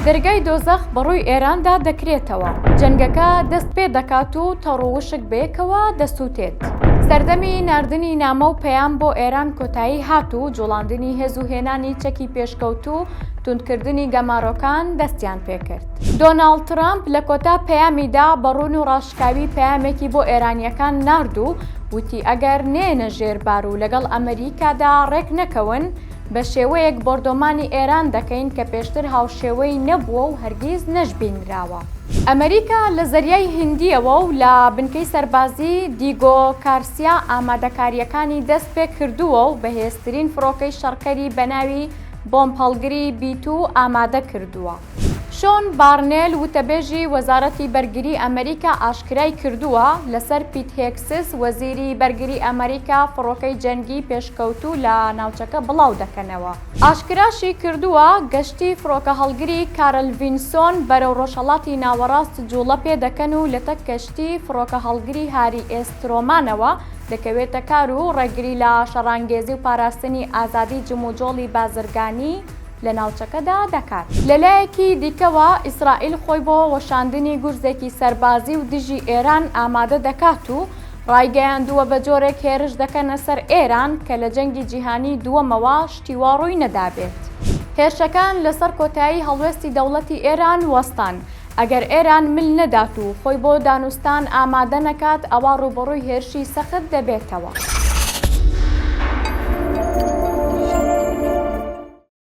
دەرگای دۆزەخ بەڕووی ئێراندا دەکرێتەوە. جەنگەکە دەست پێ دەکات و تەڕ و وشک بەیەکەوە دەسووتێت. سەردەمی ناردنی نامە و پەیام بۆ ئێران کۆتایی هات و جوڵاندنی هێز و هێنانی چەکی پێشکەوتوو توندکردنی گەمارۆکان دەستیان پێ کرد. دۆناڵد ترەمپ لە کۆتا پەیامیدا بە ڕوون و ڕاشکاوی پەیامێکی بۆ ئێرانییەکان نارد و وتی ئەگەر نێنە ژێر بار و لەگەڵ ئەمریکادا ڕێک نەکەون، بە شێوەیەک بۆردۆمانی ئێران دەکەین کە پێشتر هاوشێوەی نەبووە و هەرگیز نەشبینراوە. ئەمەریکا لە زەریای هیندییەوە و لە بنکەی سەربازی دیگۆ کارسیا ئامادەکارییەکانی دەست پێ کردووە و بەهێزترین فڕۆکەی شەڕکەری بە ناوی بۆمبهەڵگری بی-توو ئامادە کردووە. شۆن بارنێل، وتەبێژی وەزارەتی بەرگری ئەمریکا ئاشکرای کردووە، لەسەر پیت هێگسس، وەزیری بەرگری ئەمریکا فڕۆکەی جەنگی پێشکەوتوو لە ناوچەکە بڵاو دەکەنەوە. ئاشکراشی کردووە، گەشتی فڕۆکەهەڵگری کارل ڤینسۆن بەرەو ڕۆژهەڵاتی ناوەڕاست جووڵە پێ دەکەن و لەتەک کەشتی فڕۆکەهەڵگری هاری ئێس ترۆمانەوە دەکەوێتە کار و ڕێگری لە شەڕانگێزی و پاراستنی ئازادی جموجۆڵی بازرگانی لە ناوچەکەدا دەکات. لە لایەکی دیکەوە، ئیسرائیل خۆی بۆ وەشاندنی گورزێکی سەربازی و دژی ئێران ئامادە دەکات و ڕایگەیاندووە بە جۆرێک هێرش دەکەنە سەر ئێران کە لە جەنگی جیهانیی دووەمەوە شتی وا ڕووی نەدابێت. هێرشەکان لەسەر کۆتایی هەڵوێستی دەوڵەتی ئێران وەستان. ئەگەر ئێران مل نەدات و خۆی بۆ دانوستان ئامادە نەکات، ئەوا ڕووبەڕووی هێرشی سەخت دەبێتەوە.